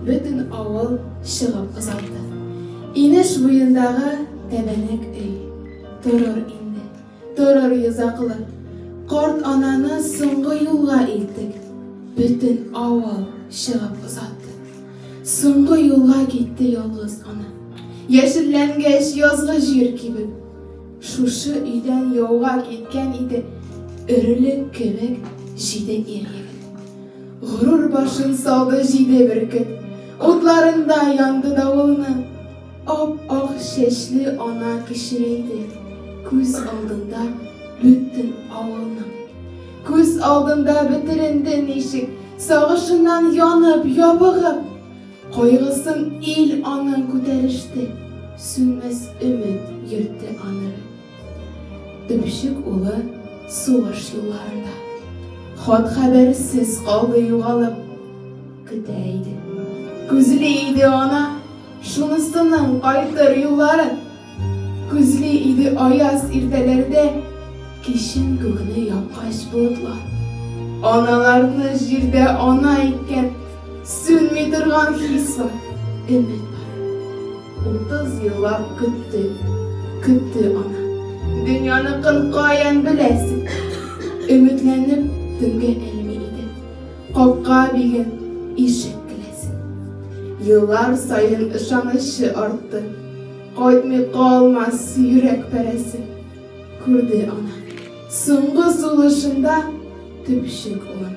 Бөтен авыл чыгып озатты. Инеш буендагы тәбәнәк өй. Торыр инде, торыр йозаклы. Карт ананы соңгы юлга илттек. Бөтен авыл чыгып озатты. Соңгы юлга китте ялгыз ана. Яшелләнгәч, язгы җир кибеп. Шушы өйдән яуга киткән иде. Өрелек кебек җиде ир-егет. Горур башын салды җиде бөркет. Утларында янды давылның. Ап-ак чәчле ана кечерәйде. Күз алдында бөтен авылның. Күз алдында бетеренде ничек, Сагышыннан янып, ябыгып. Кайгысын ил аның күтәреште, Сүнмәс өмет йөртте аныры. Төпчек улы сугыш юлларында. Хат-хәбәрсез калды югалып. Көтә иде, күзли иде ана. Шунысының кайтыр юлларын. Күзли иде аяз иртәләрдә. Кичен күкне япкач болытлар. Аналарны җирдә ана иткән. Сүнми торган хис бар, өмет бар. Утыз еллап көтте, көтте ана. Дөньяныкын каян беләсең? Өметләнеп төнгә элми иде. Капка биген, ишек келәсен. Еллар саен ышанычы артты. Кайтмый калмас йөрәк парәсе. Күрде ана, соңгы сулышында төпчек улын.